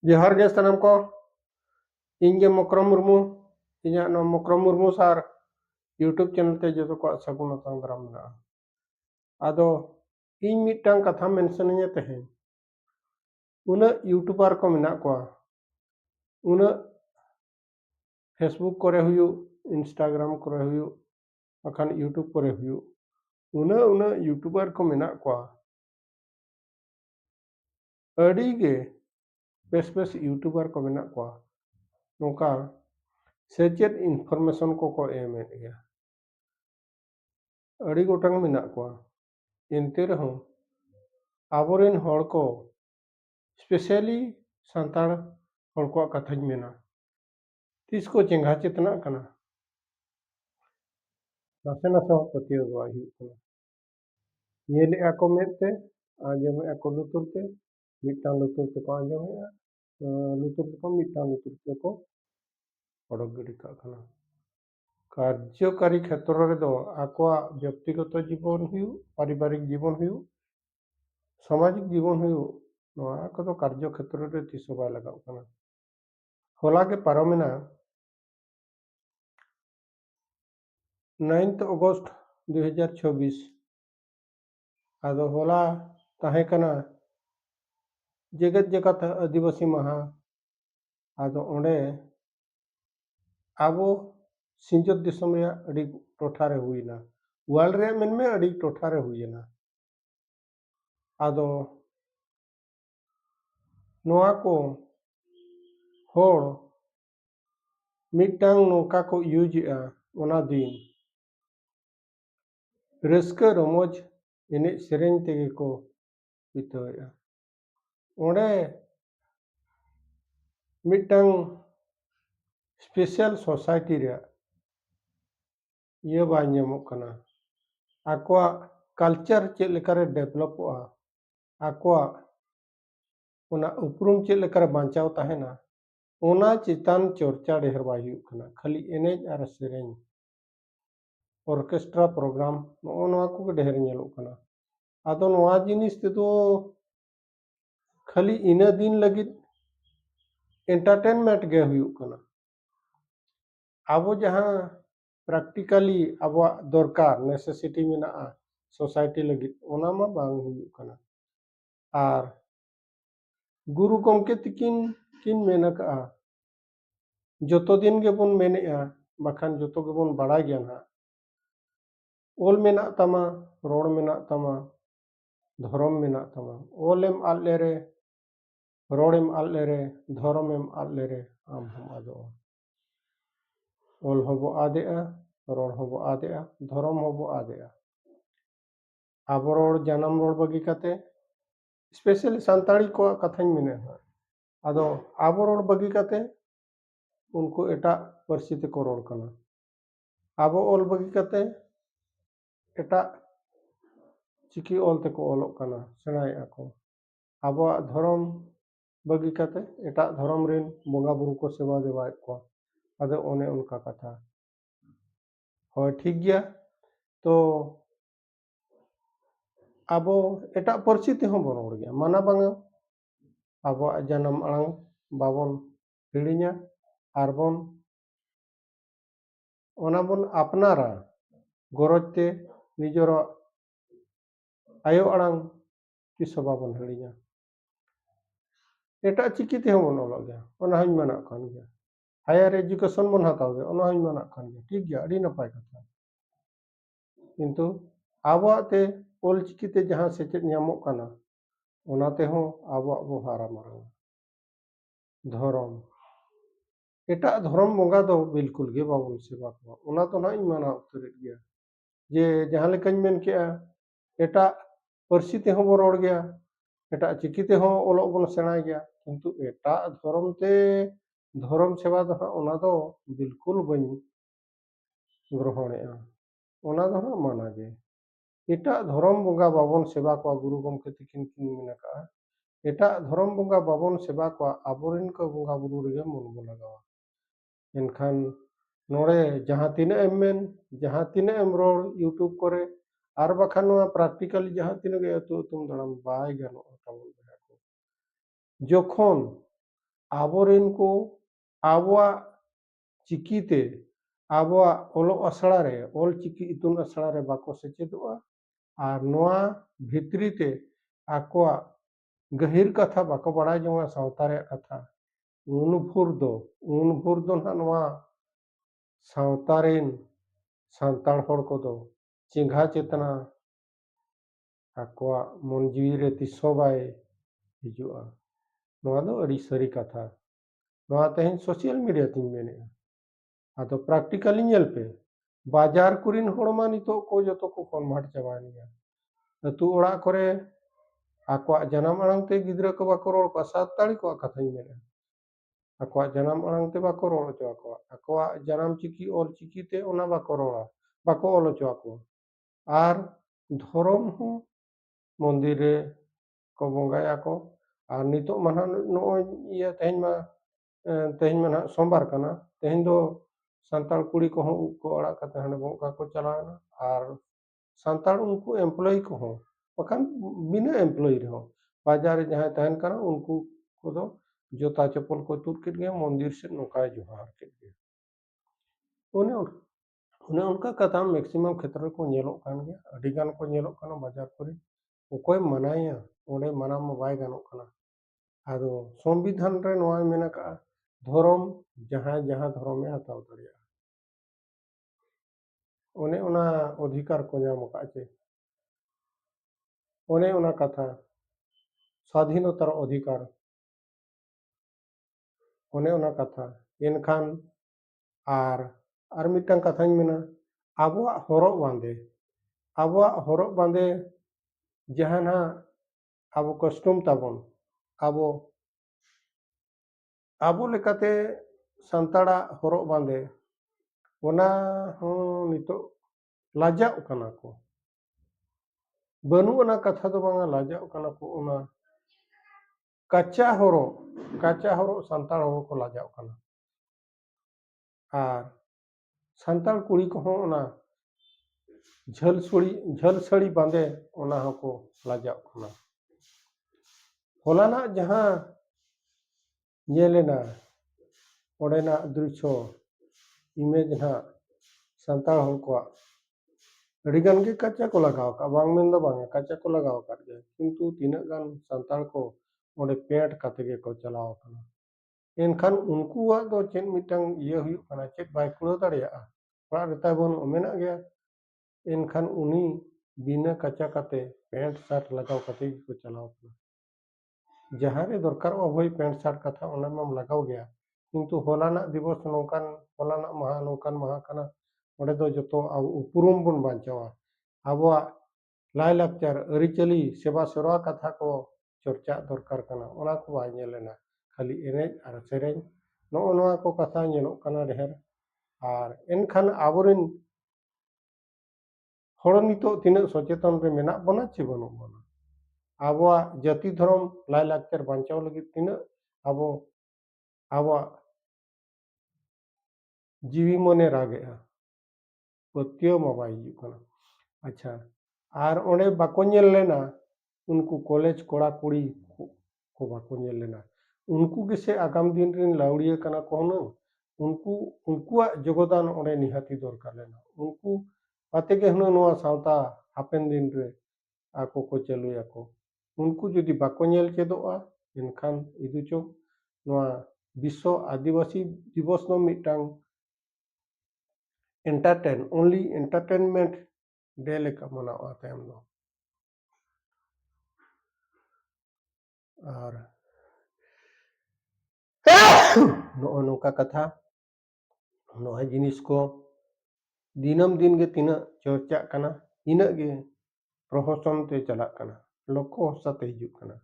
ᱡᱚᱦᱟᱨ ᱜᱮ ᱥᱟᱱᱟᱢ ᱠᱚ ᱤᱧ ᱜᱮ ᱢᱚᱠᱨᱚᱢ ᱢᱩᱨᱢᱩ ᱤᱧᱟᱹᱜ ᱱᱚᱣᱟ Mokrom Murmu sir YouTube channel ᱛᱮ ᱡᱚᱛᱚ ᱠᱚᱣᱟᱜ ᱥᱟᱹᱜᱩᱱ ᱟᱛᱟᱝ ᱫᱟᱨᱟᱢ ᱢᱮᱱᱟᱜᱼᱟ ᱟᱫᱚ ᱤᱧ ᱢᱤᱫᱴᱟᱝ ᱠᱟᱛᱷᱟ ᱢᱮᱱᱥᱟᱱᱟᱹᱧᱟ ᱛᱮᱦᱮᱧ ᱩᱱᱟᱹᱜ ᱤᱭᱩᱴᱩᱵᱟᱨ ᱠᱚ ᱢᱮᱱᱟᱜ ᱠᱚᱣᱟ ᱩᱱᱟᱹᱜ ᱯᱷᱮᱥᱵᱩᱠ ᱠᱚᱨᱮ ᱦᱩᱭᱩᱜ ᱤᱱᱥᱴᱟᱜᱨᱟᱢ ᱠᱚᱨᱮ ᱦᱩᱭᱩᱜ ᱵᱟᱠᱷᱟᱱ ᱤᱭᱩᱴᱩᱵᱽ ᱠᱚᱨᱮ ᱦᱩᱭᱩᱜ ᱩᱱᱟᱹᱜ ᱩᱱᱟᱹᱜ ᱤᱭᱩᱴᱩᱵᱟᱨ ᱠᱚ ᱢᱮᱱᱟᱜ ᱠᱚᱣᱟ ᱟᱹᱰᱤ ᱜᱮ ᱵᱮᱥ ᱵᱮᱥ ᱤᱭᱩᱴᱩᱵᱟᱨ ᱠᱚ ᱢᱮᱱᱟᱜ ᱠᱚᱣᱟ ᱱᱚᱝᱠᱟ ᱥᱮᱪᱮᱫ ᱤᱱᱯᱷᱚᱨᱢᱮᱥᱚᱱ ᱠᱚᱠᱚ ᱮᱢᱮᱫ ᱜᱮᱭᱟ ᱟᱹᱰᱤ ᱜᱚᱴᱟᱝ ᱢᱮᱱᱟᱜ ᱠᱚᱣᱟ ᱮᱱᱛᱮ ᱨᱮᱦᱚᱸ ᱟᱵᱚᱨᱮᱱ ᱦᱚᱲ ᱠᱚ ᱥᱯᱮᱥᱟᱞᱤ ᱥᱟᱱᱛᱟᱲ ᱦᱚᱲ ᱠᱚᱣᱟᱜ ᱠᱟᱛᱷᱟᱧ ᱢᱮᱱᱟ ᱛᱤᱥ ᱠᱚ ᱪᱮᱸᱜᱷᱟ ᱪᱮᱛᱱᱟᱜ ᱠᱟᱱᱟ ᱱᱟᱥᱮ ᱱᱟᱥᱮ ᱦᱚᱸ ᱯᱟᱹᱛᱭᱟᱹᱣ ᱫᱚ ᱵᱟᱭ ᱦᱩᱭᱩᱜ ᱠᱟᱱᱟ ᱧᱮᱞᱮᱫᱼᱟ ᱠᱚ ᱢᱮᱫ ᱛᱮ ᱟᱸᱡᱚᱢᱮᱫᱼᱟ ᱠᱚ ᱞᱩᱛᱩᱨ ᱛᱮ ᱢᱤᱫᱴᱟᱝ ᱞᱩᱛᱩᱨ ᱛᱮᱠᱚ ᱟᱸᱡᱚᱢᱮᱫᱼᱟ ᱞᱩᱛᱩᱨ ᱛᱮᱠᱚ ᱢᱤᱫᱴᱟᱝ ᱞᱩᱛᱩᱨ ᱛᱮᱠᱚ ᱚᱰᱚᱠ ᱜᱤᱰᱤ ᱠᱟᱜ ᱠᱟᱱᱟ ᱠᱟᱨᱡᱚᱠᱟᱨᱤ ᱠᱷᱮᱛᱨᱚ ᱨᱮᱫᱚ ᱟᱠᱚᱣᱟᱜ ᱵᱮᱠᱛᱤᱜᱚᱛᱚ ᱡᱤᱵᱚᱱ ᱦᱩᱭᱩᱜ ᱯᱟᱨᱤᱵᱟᱨᱤᱠ ᱡᱤᱵᱚᱱ ᱦᱩᱭᱩᱜ ᱥᱟᱢᱟᱡᱤᱠ ᱡᱤᱵᱚᱱ ᱦᱩᱭᱩᱜ ᱱᱚᱣᱟ ᱠᱚᱫᱚ ᱠᱟᱨᱡᱚ ᱠᱷᱮᱛᱨᱚ ᱨᱮ ᱛᱤᱥ ᱦᱚᱸ ᱵᱟᱭ ᱞᱟᱜᱟᱣ ᱠᱟᱱᱟ ᱦᱚᱞᱟ ᱜᱮ ᱯᱟᱨᱚᱢᱮᱱᱟ ᱱᱟᱭᱤᱱᱛᱷ ᱚᱜᱚᱥᱴ ᱫᱩ ᱦᱟᱡᱟᱨ ᱪᱷᱚᱵᱵᱤᱥ ᱟᱫᱚ ᱦᱚᱞᱟ ᱛᱟᱦᱮᱸ ᱠᱟᱱᱟ ᱡᱮᱜᱮᱛ ᱡᱟᱠᱟᱛ ᱟᱹᱫᱤᱵᱟᱹᱥᱤ ᱢᱟᱦᱟ ᱟᱫᱚ ᱚᱸᱰᱮ ᱟᱵᱚ ᱥᱤᱧᱚᱛ ᱫᱤᱥᱚᱢ ᱨᱮᱭᱟᱜ ᱟᱹᱰᱤ ᱴᱚᱴᱷᱟ ᱨᱮ ᱦᱩᱭᱮᱱᱟ ᱣᱟᱨᱞᱰ ᱨᱮᱭᱟᱜ ᱢᱮᱱᱢᱮ ᱟᱹᱰᱤ ᱴᱚᱴᱷᱟ ᱨᱮ ᱦᱩᱭᱮᱱᱟ ᱟᱫᱚ ᱱᱚᱣᱟ ᱠᱚ ᱦᱚᱲ ᱢᱤᱫᱴᱟᱝ ᱱᱚᱝᱠᱟ ᱠᱚ ᱤᱭᱩᱡᱮᱜᱼᱟ ᱚᱱᱟ ᱫᱤᱱ ᱨᱟᱹᱥᱠᱟᱹ ᱨᱚᱢᱚᱡᱽ ᱮᱱᱮᱡ ᱥᱮᱨᱮᱧ ᱛᱮᱜᱮ ᱠᱚ ᱵᱤᱛᱟᱹᱣᱮᱜᱼᱟ ᱚᱸᱰᱮ ᱢᱤᱫᱴᱟᱝ ᱥᱯᱮᱥᱟᱞ ᱥᱳᱥᱟᱭᱴᱤ ᱨᱮᱭᱟᱜ ᱤᱭᱟᱹ ᱵᱟᱭ ᱧᱟᱢᱚᱜ ᱠᱟᱱᱟ ᱟᱠᱚᱣᱟᱜ ᱠᱟᱞᱪᱟᱨ ᱪᱮᱫ ᱞᱮᱠᱟᱨᱮ ᱰᱮᱵᱷᱞᱚᱯᱚᱜᱼᱟ ᱟᱠᱚᱣᱟᱜ ᱚᱱᱟ ᱩᱯᱨᱩᱢ ᱪᱮᱫ ᱞᱮᱠᱟᱨᱮ ᱵᱟᱧᱪᱟᱣ ᱛᱟᱦᱮᱱᱟ ᱚᱱᱟ ᱪᱮᱛᱟᱱ ᱪᱚᱨᱪᱟ ᱰᱷᱮᱨ ᱵᱟᱭ ᱦᱩᱭᱩᱜ ᱠᱟᱱᱟ ᱠᱷᱟᱹᱞᱤ ᱮᱱᱮᱡ ᱟᱨ ᱥᱮᱨᱮᱧ ᱚᱨᱠᱮᱥᱴᱨᱟ ᱯᱨᱳᱜᱨᱟᱢ ᱱᱚᱜᱼᱚ ᱱᱚᱣᱟ ᱠᱚᱜᱮ ᱰᱷᱮᱨ ᱧᱮᱞᱚᱜ ᱠᱟᱱᱟ ᱟᱫᱚ ᱱᱚᱣᱟ ᱡᱤᱱᱤᱥ ᱛᱮᱫᱚ ᱠᱷᱟᱹᱞᱤ ᱤᱱᱟᱹ ᱫᱤᱱ ᱞᱟᱹᱜᱤᱫ ᱮᱱᱴᱟᱨᱴᱮᱱᱢᱮᱱᱴ ᱜᱮ ᱦᱩᱭᱩᱜ ᱠᱟᱱᱟ ᱟᱵᱚ ᱡᱟᱦᱟᱸ ᱯᱨᱮᱠᱴᱤᱠᱟᱞᱤ ᱟᱵᱚᱣᱟᱜ ᱫᱚᱨᱠᱟᱨ ᱱᱮᱥᱮᱥᱤᱴᱤ ᱢᱮᱱᱟᱜᱼᱟ ᱥᱳᱥᱟᱭᱴᱤ ᱞᱟᱹᱜᱤᱫ ᱚᱱᱟ ᱢᱟ ᱵᱟᱝ ᱦᱩᱭᱩᱜ ᱠᱟᱱᱟ ᱟᱨ ᱜᱩᱨᱩ ᱜᱚᱢᱠᱮ ᱛᱤᱠᱤᱱ ᱠᱤᱱ ᱢᱮᱱ ᱟᱠᱟᱜᱼᱟ ᱡᱚᱛᱚ ᱫᱤᱱ ᱜᱮᱵᱚᱱ ᱢᱮᱱᱮᱜᱼᱟ ᱵᱟᱠᱷᱟᱱ ᱡᱚᱛᱚ ᱜᱮᱵᱚᱱ ᱵᱟᱲᱟᱭ ᱜᱮᱭᱟ ᱱᱟᱦᱟᱜ ᱚᱞ ᱢᱮᱱᱟᱜ ᱛᱟᱢᱟ ᱨᱚᱲ ᱢᱮᱱᱟᱜ ᱛᱟᱢᱟ ᱫᱷᱚᱨᱚᱢ ᱢᱮᱱᱟᱜ ᱛᱟᱢᱟ ᱚᱞᱮᱢ ᱟᱫ ᱞᱮᱨᱮ ᱨᱚᱲᱮᱢ ᱟᱫ ᱞᱮᱨᱮ ᱫᱷᱚᱨᱚᱢᱮᱢ ᱟᱫ ᱞᱮᱨᱮ ᱟᱢ ᱦᱚᱢ ᱟᱫᱚᱜᱼᱟ ᱚᱞ ᱦᱚᱸᱵᱚ ᱟᱫᱮᱜᱼᱟ ᱨᱚᱲ ᱦᱚᱸᱵᱚ ᱟᱫᱮᱜᱼᱟ ᱫᱷᱚᱨᱚᱢ ᱦᱚᱸᱵᱚ ᱟᱫᱮᱜᱼᱟ ᱟᱵᱚ ᱨᱚᱲ ᱡᱟᱱᱟᱢ ᱨᱚᱲ ᱵᱟᱹᱜᱤ ᱠᱟᱛᱮ ᱥᱯᱮᱥᱟᱞᱤ ᱥᱟᱱᱛᱟᱲᱤ ᱠᱚᱣᱟᱜ ᱠᱟᱛᱷᱟᱧ ᱢᱮᱱᱮᱫᱼᱟ ᱟᱫᱚ ᱟᱵᱚ ᱨᱚᱲ ᱵᱟᱹᱜᱤ ᱠᱟᱛᱮ ᱩᱱᱠᱩ ᱮᱴᱟᱜ ᱯᱟᱹᱨᱥᱤ ᱛᱮᱠᱚ ᱨᱚᱲ ᱠᱟᱱᱟ ᱟᱵᱚ ᱚᱞ ᱵᱟᱹᱜᱤ ᱠᱟᱛᱮ ᱮᱴᱟᱜ ᱪᱤᱠᱤ ᱚᱞ ᱛᱮᱠᱚ ᱚᱞᱚᱜ ᱠᱟᱱᱟ ᱥᱮᱬᱟᱭᱮᱜᱼᱟ ᱠᱚ ᱟᱵᱚᱣᱟᱜ ᱫᱷᱚᱨᱚᱢ ᱵᱟᱹᱜᱤ ᱠᱟᱛᱮ ᱮᱴᱟᱜ ᱫᱷᱚᱨᱚᱢ ᱨᱮᱱ ᱵᱚᱸᱜᱟ ᱵᱳᱨᱳ ᱠᱚ ᱥᱮᱵᱟ ᱫᱮᱵᱟᱭᱮᱫ ᱠᱚᱣᱟ ᱟᱫᱚ ᱚᱱᱮ ᱚᱱᱠᱟ ᱠᱟᱛᱷᱟ ᱦᱳᱭ ᱴᱷᱤᱠ ᱜᱮᱭᱟ ᱛᱚ ᱟᱵᱚ ᱮᱴᱟᱜ ᱯᱟᱹᱨᱥᱤ ᱛᱮᱦᱚᱸ ᱵᱚᱱ ᱨᱚᱲ ᱜᱮᱭᱟ ᱢᱟᱱᱟ ᱵᱟᱝᱟ ᱟᱵᱚᱣᱟᱜ ᱡᱟᱱᱟᱢ ᱟᱲᱟᱝ ᱵᱟᱵᱚᱱ ᱦᱤᱲᱤᱧᱟ ᱟᱨᱵᱚᱱ ᱚᱱᱟ ᱵᱚᱱ ᱟᱯᱱᱟᱨᱟ ᱜᱚᱨᱚᱡᱽ ᱛᱮ ᱱᱤᱡᱮᱨᱟᱜ ᱟᱭᱳ ᱟᱲᱟᱝ ᱛᱤᱥ ᱦᱚᱸ ᱵᱟᱵᱚᱱ ᱦᱤᱲᱤᱧᱟ ᱮᱴᱟᱜ ᱪᱤᱠᱤ ᱛᱮᱦᱚᱸ ᱵᱚᱱ ᱚᱞᱚᱜ ᱜᱮᱭᱟ ᱚᱱᱟ ᱦᱚᱸᱧ ᱢᱟᱱᱟᱜ ᱠᱟᱱ ᱜᱮᱭᱟ ᱦᱟᱭᱟᱨ ᱮᱰᱩᱠᱮᱥᱚᱱ ᱵᱚᱱ ᱦᱟᱛᱟᱣ ᱜᱮᱭᱟ ᱚᱱᱟ ᱦᱚᱸᱧ ᱢᱟᱱᱟᱜ ᱠᱟᱱ ᱜᱮᱭᱟ ᱴᱷᱤᱠ ᱜᱮᱭᱟ ᱟᱹᱰᱤ ᱱᱟᱯᱟᱭ ᱠᱟᱛᱷᱟ ᱠᱤᱱᱛᱩ ᱟᱵᱚᱣᱟᱜ ᱛᱮ ᱚᱞ ᱪᱤᱠᱤ ᱛᱮ ᱡᱟᱦᱟᱸ ᱥᱮᱪᱮᱫ ᱧᱟᱢᱚᱜ ᱠᱟᱱᱟ ᱚᱱᱟ ᱛᱮᱦᱚᱸ ᱟᱵᱚᱣᱟᱜ ᱵᱚ ᱦᱟᱨᱟ ᱢᱟᱨᱟᱝᱟ ᱫᱷᱚᱨᱚᱢ ᱮᱴᱟᱜ ᱫᱷᱚᱨᱚᱢ ᱵᱚᱸᱜᱟ ᱫᱚ ᱵᱤᱞᱠᱩᱞ ᱜᱮ ᱵᱟᱵᱚᱱ ᱥᱮᱵᱟ ᱠᱚᱣᱟ ᱚᱱᱟ ᱫᱚ ᱱᱟᱦᱟᱜ ᱤᱧ ᱢᱟᱱᱟᱣ ᱩᱛᱟᱹᱨᱮᱫ ᱜᱮᱭᱟ ᱡᱮ ᱡᱟᱦᱟᱸ ᱞᱮᱠᱟᱧ ᱢᱮᱱ ᱠᱮᱜᱼᱟ ᱮᱴᱟᱜ ᱯᱟᱹᱨᱥᱤ ᱛᱮᱦᱚᱸ ᱵᱚᱱ ᱨᱚᱲ ᱜᱮᱭᱟ ᱮᱴᱟᱜ ᱪᱤᱠᱤ ᱛᱮᱦᱚᱸ ᱚᱞᱚᱜ ᱵᱚᱱ ᱥᱮᱬᱟᱭ ᱜᱮᱭᱟ ᱠᱤᱱᱛᱩ ᱮᱴᱟᱜ ᱫᱷᱚᱨᱚᱢ ᱛᱮ ᱫᱷᱚᱨᱚᱢ ᱥᱮᱵᱟ ᱫᱚ ᱦᱟᱸᱜ ᱚᱱᱟ ᱫᱚ ᱵᱤᱞᱠᱩᱞ ᱵᱟᱹᱧ ᱜᱨᱚᱦᱚᱱᱮᱜᱼᱟ ᱚᱱᱟ ᱫᱚ ᱦᱟᱸᱜ ᱢᱟᱱᱟ ᱜᱮ ᱮᱴᱟᱜ ᱫᱷᱚᱨᱚᱢ ᱵᱚᱸᱜᱟ ᱵᱟᱵᱚᱱ ᱥᱮᱵᱟ ᱠᱚᱣᱟ ᱜᱩᱨᱩ ᱜᱚᱢᱠᱮ ᱛᱤᱠᱤᱱ ᱠᱤᱱ ᱢᱮᱱ ᱟᱠᱟᱫᱼᱟ ᱮᱴᱟᱜ ᱫᱷᱚᱨᱚᱢ ᱵᱚᱸᱜᱟ ᱵᱟᱵᱚᱱ ᱥᱮᱵᱟ ᱠᱚᱣᱟ ᱟᱵᱚᱨᱮᱱ ᱠᱚ ᱵᱚᱸᱜᱟ ᱵᱩᱨᱩ ᱨᱮᱜᱮ ᱢᱚᱱ ᱵᱚ ᱞᱟᱜᱟᱣᱟ ᱮᱱᱠᱷᱟᱱ ᱱᱚᱰᱮ ᱡᱟᱦᱟᱸ ᱛᱤᱱᱟᱹᱜ ᱮᱢ ᱢᱮᱱ ᱡᱟᱦᱟᱸ ᱛᱤᱱᱟᱹᱜ ᱮᱢ ᱨᱚᱲ ᱤᱭᱩᱴᱩᱵᱽ ᱠᱚᱨᱮ ᱟᱨ ᱵᱟᱠᱷᱟᱱ ᱱᱚᱣᱟ ᱯᱨᱟᱠᱴᱤᱠᱟᱞᱤ ᱡᱟᱦᱟᱸ ᱛᱤᱱᱟᱹᱜ ᱜᱮ ᱟᱹᱛᱩ ᱟᱹᱛᱩᱢ ᱫᱟᱬᱟᱱ ᱵᱟᱭ ᱜᱟᱱᱚᱜᱼᱟ ᱛᱟᱵᱚᱱ ᱵᱚᱭᱦᱟ ᱠᱚ ᱡᱚᱠᱷᱚᱱ ᱟᱵᱚᱨᱮᱱ ᱠᱚ ᱟᱵᱚᱣᱟᱜ ᱪᱤᱠᱤ ᱛᱮ ᱟᱵᱚᱣᱟᱜ ᱚᱞᱚᱜ ᱟᱥᱲᱟ ᱨᱮ ᱚᱞ ᱪᱤᱠᱤ ᱤᱛᱩᱱ ᱟᱥᱲᱟ ᱨᱮ ᱵᱟᱠᱚ ᱥᱮᱪᱮᱫᱚᱜᱼᱟ ᱟᱨ ᱱᱚᱣᱟ ᱵᱷᱤᱛᱨᱤ ᱛᱮ ᱟᱠᱚᱣᱟᱜ ᱜᱟᱹᱦᱤᱨ ᱠᱟᱛᱷᱟ ᱵᱟᱠᱚ ᱵᱟᱲᱟᱭ ᱡᱚᱝᱟ ᱥᱟᱶᱛᱟ ᱨᱮᱭᱟᱜ ᱠᱟᱛᱷᱟ ᱩᱱ ᱵᱷᱳᱨ ᱫᱚ ᱩᱱ ᱵᱷᱳᱨ ᱫᱚ ᱱᱟᱦᱟᱜ ᱱᱚᱣᱟ ᱥᱟᱶᱛᱟ ᱨᱮᱱ ᱥᱟᱱᱛᱟᱲ ᱦᱚᱲ ᱠᱚᱫᱚ ᱪᱮᱸᱜᱷᱟ ᱪᱮᱛᱱᱟ ᱟᱠᱚᱣᱟᱜ ᱢᱚᱱ ᱡᱤᱣᱤ ᱨᱮ ᱛᱤᱥ ᱦᱚᱸ ᱵᱟᱭ ᱦᱤᱡᱩᱜᱼᱟ ᱱᱚᱣᱟ ᱫᱚ ᱟᱹᱰᱤ ᱥᱟᱹᱨᱤ ᱠᱟᱛᱷᱟ ᱱᱚᱣᱟ ᱛᱮᱦᱮᱧ ᱥᱳᱥᱤᱭᱟᱞ ᱢᱤᱰᱤᱭᱟ ᱛᱤᱧ ᱢᱮᱱᱮᱫᱼᱟ ᱟᱫᱚ ᱯᱨᱮᱠᱴᱤᱠᱟᱞᱤ ᱧᱮᱞ ᱯᱮ ᱵᱟᱡᱟᱨ ᱠᱚᱨᱮᱱ ᱦᱚᱲ ᱢᱟ ᱱᱤᱛᱚᱜ ᱠᱚ ᱡᱚᱛᱚ ᱠᱚ ᱠᱚᱱᱵᱷᱟᱨᱴ ᱪᱟᱵᱟᱭᱮᱱ ᱜᱮᱭᱟ ᱟᱹᱛᱩ ᱚᱲᱟᱜ ᱠᱚᱨᱮ ᱟᱠᱚᱣᱟᱜ ᱡᱟᱱᱟᱢ ᱟᱲᱟᱝ ᱛᱮ ᱜᱤᱫᱽᱨᱟᱹ ᱠᱚ ᱵᱟᱠᱚ ᱨᱚᱲ ᱠᱚᱣᱟ ᱥᱟᱱᱛᱟᱲᱤ ᱠᱚᱣᱟᱜ ᱠᱟᱛᱷᱟᱧ ᱢᱮᱱᱮᱫᱼᱟ ᱟᱠᱚᱣᱟᱜ ᱡᱟᱱᱟᱢ ᱟᱲᱟᱝ ᱛᱮ ᱵᱟᱠᱚ ᱨᱚᱲ ᱦᱚᱪᱚ ᱟᱠᱚᱣᱟ ᱟᱠᱚᱣᱟᱜ ᱡᱟᱱᱟᱢ ᱪᱤᱠᱤ ᱚᱞ ᱪᱤᱠᱤ ᱛᱮ ᱚᱱᱟ ᱵᱟᱠᱚ ᱨᱚᱲᱟ ᱵᱟᱠᱚ ᱚᱞ ᱦᱚᱪᱚ ᱟᱠᱚᱣᱟ ᱟᱨ ᱫᱷᱚᱨᱚᱢ ᱦᱚᱸ ᱢᱚᱱᱫᱤᱨ ᱨᱮ ᱠᱚ ᱵᱚᱸᱜᱟᱭᱟ ᱠᱚ ᱟᱨ ᱱᱤᱛᱚᱜ ᱢᱟ ᱱᱟᱦᱟᱜ ᱱᱚᱜᱼᱚᱭ ᱤᱭᱟᱹ ᱛᱮᱦᱮᱧ ᱢᱟ ᱛᱮᱦᱮᱧ ᱢᱟ ᱱᱟᱦᱟᱜ ᱥᱚᱢᱵᱟᱨ ᱠᱟᱱᱟ ᱛᱮᱦᱮᱧ ᱫᱚ ᱥᱟᱱᱛᱟᱲ ᱠᱩᱲᱤ ᱠᱚᱦᱚᱸ ᱩᱵ ᱠᱚ ᱟᱲᱟᱜ ᱠᱟᱛᱮᱫ ᱦᱟᱸᱰᱮ ᱵᱚᱸᱜᱟ ᱠᱚ ᱪᱟᱞᱟᱣᱮᱱᱟ ᱟᱨ ᱥᱟᱱᱛᱟᱲ ᱩᱱᱠᱩ ᱮᱢᱯᱞᱚᱭᱤ ᱠᱚᱦᱚᱸ ᱵᱟᱠᱷᱟᱱ ᱵᱤᱱᱟᱹ ᱮᱢᱯᱞᱚᱭᱤ ᱨᱮᱦᱚᱸ ᱵᱟᱡᱟᱨ ᱨᱮ ᱡᱟᱦᱟᱸᱭ ᱛᱟᱦᱮᱱ ᱠᱟᱱᱟ ᱩᱱᱠᱩ ᱠᱚᱫᱚ ᱡᱩᱛᱟ ᱪᱚᱯᱚᱞ ᱠᱚ ᱛᱩᱫ ᱠᱮᱫ ᱜᱮ ᱢᱚᱱᱫᱤᱨ ᱥᱮᱫ ᱱᱚᱝᱠᱟᱭ ᱡᱚᱦᱟᱨ ᱠᱮᱫ ᱜᱮ ᱚᱱᱮ ᱚᱱᱠᱟ ᱚᱱᱮ ᱚᱱᱠᱟ ᱠᱟᱛᱷᱟ ᱢᱮᱠᱥᱤᱢᱟᱢ ᱠᱷᱮᱛᱨᱮ ᱨᱮᱠᱚ ᱧᱮᱞᱚᱜ ᱠᱟᱱ ᱜᱮᱭᱟ ᱟᱹᱰᱤ ᱜᱟᱱ ᱠᱚ ᱧᱮᱞᱚᱜ ᱠᱟᱱᱟ ᱵᱟᱡᱟᱨ ᱠᱚᱨᱮ ᱚᱠᱚᱭᱮᱢ ᱢᱟᱱᱟᱭᱮᱭᱟ ᱚᱸᱰᱮ ᱢᱟᱱᱟᱣ ᱢᱟ ᱵᱟᱭ ᱜᱟᱱᱚᱜ ᱠᱟᱱᱟ ᱟᱫᱚ ᱥᱚᱝᱵᱤᱫᱷᱟᱱ ᱨᱮ ᱱᱚᱣᱟᱭ ᱢᱮᱱ ᱟᱠᱟᱫᱼᱟ ᱫᱷᱚᱨᱚᱢ ᱡᱟᱦᱟᱸᱭ ᱡᱟᱦᱟᱸ ᱫᱷᱚᱨᱚᱢᱮ ᱦᱟᱛᱟᱣ ᱫᱟᱲᱮᱭᱟᱜᱼᱟ ᱚᱱᱮ ᱚᱱᱟ ᱚᱫᱷᱤᱠᱟᱨ ᱠᱚ ᱧᱟᱢ ᱟᱠᱟᱫᱼᱟ ᱪᱮ ᱚᱱᱮ ᱚᱱᱟ ᱠᱟᱛᱷᱟ ᱥᱟᱫᱷᱤᱱᱚᱛᱟᱨ ᱚᱫᱷᱤᱠᱟᱨ ᱚᱱᱮ ᱚᱱᱟ ᱠᱟᱛᱷᱟ ᱮᱱᱠᱷᱟᱱ ᱟᱨ ᱟᱨ ᱢᱤᱫᱴᱟᱝ ᱠᱟᱛᱷᱟᱧ ᱢᱮᱱᱟ ᱟᱵᱚᱣᱟᱜ ᱦᱚᱨᱚᱜ ᱵᱟᱸᱫᱮ ᱟᱵᱚᱣᱟᱜ ᱦᱚᱨᱚᱜ ᱵᱟᱸᱫᱮ ᱡᱟᱦᱟᱸ ᱱᱟᱦᱟᱜ ᱟᱵᱚ ᱠᱚᱥᱴᱩᱢ ᱛᱟᱵᱚᱱ ᱟᱵᱚ ᱟᱵᱚ ᱞᱮᱠᱟᱛᱮ ᱥᱟᱱᱛᱟᱲᱟᱜ ᱦᱚᱨᱚᱜ ᱵᱟᱸᱫᱮ ᱚᱱᱟ ᱦᱚᱸ ᱱᱤᱛᱚᱜ ᱞᱟᱡᱟᱜ ᱠᱟᱱᱟ ᱠᱚ ᱵᱟᱹᱱᱩᱜ ᱟᱱᱟ ᱠᱟᱛᱷᱟ ᱫᱚ ᱵᱟᱝᱟ ᱞᱟᱡᱟᱜ ᱠᱟᱱᱟ ᱠᱚ ᱚᱱᱟ ᱠᱟᱪᱟ ᱦᱚᱨᱚᱜ ᱠᱟᱪᱟ ᱦᱚᱨᱚᱜ ᱥᱟᱱᱛᱟᱲ ᱦᱚᱲ ᱠᱚ ᱞᱟᱡᱟᱜ ᱠᱟᱱᱟ ᱟᱨ ᱥᱟᱱᱛᱟᱲ ᱠᱩᱲᱤ ᱠᱚᱦᱚᱸ ᱚᱱᱟ ᱡᱷᱟᱹᱞ ᱥᱩᱲᱤ ᱡᱷᱟᱹᱞ ᱥᱟᱹᱲᱤ ᱵᱟᱸᱫᱮ ᱚᱱᱟ ᱦᱚᱸᱠᱚ ᱞᱟᱡᱟᱜ ᱠᱟᱱᱟ ᱦᱚᱞᱟᱱᱟᱜ ᱡᱟᱦᱟᱸ ᱧᱮᱞᱮᱱᱟ ᱚᱸᱰᱮᱱᱟᱜ ᱫᱨᱤᱥᱥᱚ ᱤᱢᱮᱡᱽ ᱱᱟᱦᱟᱜ ᱥᱟᱱᱛᱟᱲ ᱦᱚᱲ ᱠᱚᱣᱟᱜ ᱟᱹᱰᱤ ᱜᱟᱱ ᱜᱮ ᱠᱟᱪᱟ ᱠᱚ ᱞᱟᱜᱟᱣ ᱠᱟᱜᱼᱟ ᱵᱟᱝ ᱢᱮᱱ ᱫᱚ ᱵᱟᱝ ᱠᱟᱪᱟ ᱠᱚ ᱞᱟᱜᱟᱣ ᱠᱟᱫ ᱜᱮᱭᱟ ᱠᱤᱱᱛᱩ ᱛᱤᱱᱟᱹᱜ ᱜᱟᱱ ᱥᱟᱱᱛᱟᱲ ᱠᱚ ᱚᱸᱰᱮ ᱯᱮᱸᱴ ᱠᱟᱛᱮ ᱜᱮᱠᱚ ᱪᱟᱞᱟᱣ ᱠᱟᱱᱟ ᱮᱱᱠᱷᱟᱱ ᱩᱱᱠᱩᱣᱟᱜ ᱫᱚ ᱪᱮᱫ ᱢᱤᱫᱴᱟᱝ ᱤᱭᱟᱹ ᱦᱩᱭᱩᱜ ᱠᱟᱱᱟ ᱪᱮᱫ ᱵᱟᱭ ᱠᱩᱲᱟᱹᱣ ᱫᱟᱲᱮᱭᱟᱜᱼᱟ ᱚᱲᱟᱜ ᱨᱮᱛᱟᱭ ᱵᱟᱹᱱᱩᱜ ᱢᱮᱱᱟᱜ ᱜᱮᱭᱟ ᱮᱱᱠᱷᱟᱱ ᱩᱱᱤ ᱵᱤᱱᱟᱹ ᱠᱟᱪᱟ ᱠᱟᱛᱮ ᱯᱮᱱᱴ ᱥᱟᱨᱴ ᱞᱟᱜᱟᱣ ᱠᱟᱛᱮ ᱜᱮᱠᱚ ᱪᱟᱞᱟᱣ ᱠᱟᱱᱟ ᱡᱟᱦᱟᱸ ᱨᱮ ᱫᱚᱨᱠᱟᱨᱚᱜᱼᱟ ᱦᱳᱭ ᱯᱮᱱᱴ ᱥᱟᱨᱴ ᱠᱟᱛᱷᱟ ᱚᱱᱟ ᱢᱟᱢ ᱞᱟᱜᱟᱣ ᱜᱮᱭᱟ ᱠᱤᱱᱛᱩ ᱦᱚᱞᱟᱱᱟᱜ ᱫᱤᱵᱚᱥ ᱱᱚᱝᱠᱟᱱ ᱦᱚᱞᱟᱱᱟᱜ ᱢᱟᱦᱟ ᱱᱚᱝᱠᱟᱱ ᱢᱟᱦᱟ ᱠᱟᱱᱟ ᱚᱸᱰᱮ ᱫᱚ ᱡᱚᱛᱚ ᱟᱵᱚ ᱩᱯᱨᱩᱢ ᱵᱚᱱ ᱵᱟᱧᱪᱟᱣᱟ ᱟᱵᱚᱣᱟᱜ ᱞᱟᱭ ᱞᱟᱠᱪᱟᱨ ᱟᱹᱨᱤᱪᱟᱹᱞᱤ ᱥᱮᱵᱟ ᱥᱮᱨᱣᱟ ᱠᱟᱛᱷᱟ ᱠᱚ ᱪᱚᱨᱪᱟᱜ ᱫᱚᱨᱠᱟᱨ ᱠᱟᱱᱟ ᱚᱱᱟ ᱠᱚ ᱵᱟᱭ ᱧᱮᱞ ᱞᱮᱱᱟ ᱠᱷᱟᱹᱞᱤ ᱮᱱᱮᱡ ᱟᱨ ᱥᱮᱨᱮᱧ ᱱᱚᱜᱼᱚ ᱱᱚᱣᱟ ᱠᱚ ᱠᱟᱛᱷᱟ ᱧᱮᱞᱚᱜ ᱠᱟᱱᱟ ᱰᱷᱮᱨ ᱟᱨ ᱮᱱᱠᱷᱟᱱ ᱟᱵᱚᱨᱮᱱ ᱦᱚᱲ ᱱᱤᱛᱚᱜ ᱛᱤᱱᱟᱹᱜ ᱥᱚᱪᱮᱛᱚᱱ ᱨᱮ ᱢᱮᱱᱟᱜ ᱵᱚᱱᱟ ᱪᱮ ᱵᱟᱹᱱᱩᱜ ᱵᱚᱱᱟ ᱟᱵᱚᱣᱟᱜ ᱡᱟᱹᱛᱤ ᱫᱷᱚᱨᱚᱢ ᱞᱟᱭ ᱞᱟᱠᱪᱟᱨ ᱵᱟᱧᱪᱟᱣ ᱞᱟᱹᱜᱤᱫ ᱛᱤᱱᱟᱹᱜ ᱟᱵᱚ ᱟᱵᱚᱣᱟᱜ ᱡᱤᱣᱤ ᱢᱚᱱᱮ ᱨᱟᱜᱮᱜᱼᱟ ᱯᱟᱹᱛᱭᱟᱹᱣ ᱢᱟ ᱵᱟᱭ ᱦᱤᱡᱩᱜ ᱠᱟᱱᱟ ᱟᱪᱪᱷᱟ ᱟᱨ ᱚᱸᱰᱮ ᱵᱟᱠᱚ ᱧᱮᱞ ᱞᱮᱱᱟ ᱩᱱᱠᱩ ᱠᱚᱞᱮᱡᱽ ᱠᱚᱲᱟ ᱠᱩᱲᱤ ᱠᱚ ᱵᱟᱠᱚ ᱧᱮᱞ ᱞᱮᱱᱟ ᱩᱱᱠᱩ ᱜᱮᱥᱮ ᱟᱜᱟᱢ ᱫᱤᱱ ᱨᱮᱱ ᱞᱟᱹᱣᱲᱤᱭᱟᱹ ᱠᱟᱱᱟ ᱠᱚ ᱦᱩᱱᱟᱹᱝ ᱩᱱᱠᱩ ᱩᱱᱠᱩᱣᱟᱜ ᱡᱳᱜᱚᱫᱟᱱ ᱚᱸᱰᱮ ᱱᱤᱦᱟᱹᱛᱤ ᱫᱚᱨᱠᱟᱨ ᱞᱮᱱᱟ ᱩᱱᱠᱩ ᱟᱛᱮ ᱜᱮ ᱦᱩᱱᱟᱹᱝ ᱱᱚᱣᱟ ᱥᱟᱶᱛᱟ ᱦᱟᱯᱮᱱ ᱫᱤᱱ ᱨᱮ ᱟᱠᱚ ᱠᱚ ᱪᱟᱹᱞᱩᱭᱟᱠᱚ ᱩᱱᱠᱩ ᱡᱩᱫᱤ ᱵᱟᱠᱚ ᱧᱮᱞ ᱪᱮᱫᱚᱜᱼᱟ ᱮᱱᱠᱷᱟᱱ ᱤᱫᱩ ᱪᱚᱝ ᱱᱚᱣᱟ ᱵᱤᱥᱥᱚ ᱟᱹᱫᱤᱵᱟᱹᱥᱤ ᱫᱤᱵᱚᱥ ᱫᱚ ᱢᱤᱫᱴᱟᱝ ᱮᱱᱴᱟᱨᱴᱮᱱ ᱚᱱᱞᱤ ᱮᱱᱴᱟᱨᱴᱮᱱᱢᱮᱱᱴ ᱰᱮ ᱞᱮᱠᱟ ᱢᱟᱱᱟᱣᱚᱜᱼᱟ ᱛᱟᱭᱚᱢ ᱫᱚ ᱟᱨ ᱱᱚᱜᱼᱚ ᱱᱚᱝᱠᱟ ᱠᱟᱛᱷᱟ ᱱᱚᱜᱼᱚᱭ ᱡᱤᱱᱤᱥ ᱠᱚ ᱫᱤᱱᱟᱹᱢ ᱫᱤᱱ ᱜᱮ ᱛᱤᱱᱟᱹᱜ ᱪᱚᱨᱪᱟᱜ ᱠᱟᱱᱟ ᱤᱱᱟᱹᱜ ᱜᱮ ᱯᱨᱚᱦᱚᱥᱚᱱ ᱛᱮ ᱪᱟᱞᱟᱜ ᱠᱟᱱᱟ ᱞᱚᱠᱠᱷᱚ ᱵᱷᱚᱨᱥᱟ ᱛᱮ ᱦᱤᱡᱩᱜ ᱠᱟᱱᱟ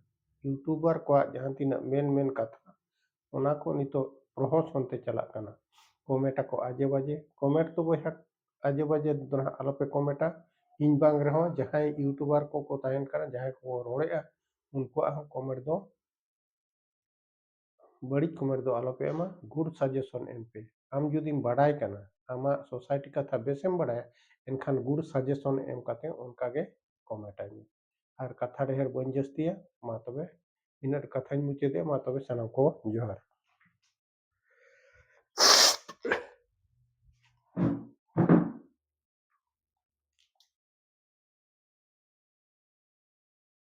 ᱤᱭᱩᱴᱩᱵᱟᱨ ᱠᱚᱣᱟᱜ ᱡᱟᱦᱟᱸ ᱛᱤᱱᱟᱹᱜ ᱢᱮᱱ ᱢᱮᱱ ᱠᱟᱛᱷᱟ ᱚᱱᱟ ᱠᱚ ᱱᱤᱛᱚᱜ ᱯᱨᱚᱦᱚᱥᱚᱱ ᱛᱮ ᱪᱟᱞᱟᱜ ᱠᱟᱱᱟ ᱠᱚᱢᱮᱱᱴ ᱟᱠᱚ ᱟᱡᱮ ᱵᱟᱡᱮ ᱠᱚᱢᱮᱱᱴ ᱫᱚ ᱵᱚᱭᱦᱟ ᱟᱡᱮ ᱵᱟᱡᱮ ᱫᱚ ᱱᱟᱦᱟᱜ ᱟᱞᱚᱯᱮ ᱠᱚᱢᱮᱱᱴᱟ ᱤᱧ ᱵᱟᱝ ᱨᱮᱦᱚᱸ ᱡᱟᱦᱟᱸᱭ ᱤᱭᱩᱴᱩᱵᱟᱨ ᱠᱚᱠᱚ ᱛᱟᱦᱮᱱ ᱠᱟᱱᱟ ᱡᱟᱦᱟᱸᱭ ᱠᱚᱠᱚ ᱨᱚᱲᱮᱫᱼᱟ ᱩᱱᱠᱩᱣᱟᱜ ᱦᱚᱸ ᱠᱚᱢᱮᱱᱴ ᱫᱚ ᱵᱟᱹᱲᱤᱡ ᱠᱚᱢᱮᱱᱴ ᱫᱚ ᱟᱞᱚᱯᱮ ᱮᱢᱟ ᱜᱩᱰ ᱥᱟᱡᱮᱥᱚᱱ ᱮᱢ ᱯᱮ ᱟᱢ ᱡᱩᱫᱤᱢ ᱵᱟᱰᱟᱭ ᱠᱟᱱᱟ ᱟᱢᱟᱜ ᱥᱳᱥᱟᱭᱴᱤ ᱠᱟᱛᱷᱟ ᱵᱮᱥᱮᱢ ᱵᱟᱰᱟᱭᱟ ᱮᱱᱠᱷᱟᱱ ᱜᱩᱰ ᱥᱟᱡᱮᱥᱚᱱ ᱮᱢ ᱠᱟᱛᱮ ᱚᱱᱠᱟᱜᱮ ᱠᱚᱢᱮᱱᱴ ᱟᱹᱧ ᱢᱮ ᱟᱨ ᱠᱟᱛᱷᱟ ᱰᱷᱮᱨ ᱵᱟᱹᱧ ᱡᱟᱹᱥᱛᱤᱭᱟ ᱢᱟ ᱛᱚᱵᱮ ᱤᱱᱟᱹᱜ ᱠᱟᱛᱷᱟᱧ ᱢᱩᱪᱟᱹᱫᱮᱜᱼᱟ ᱢᱟ ᱛᱚᱵᱮ ᱥᱟᱱᱟᱢ ᱠᱚ ᱡᱚᱦᱟᱨ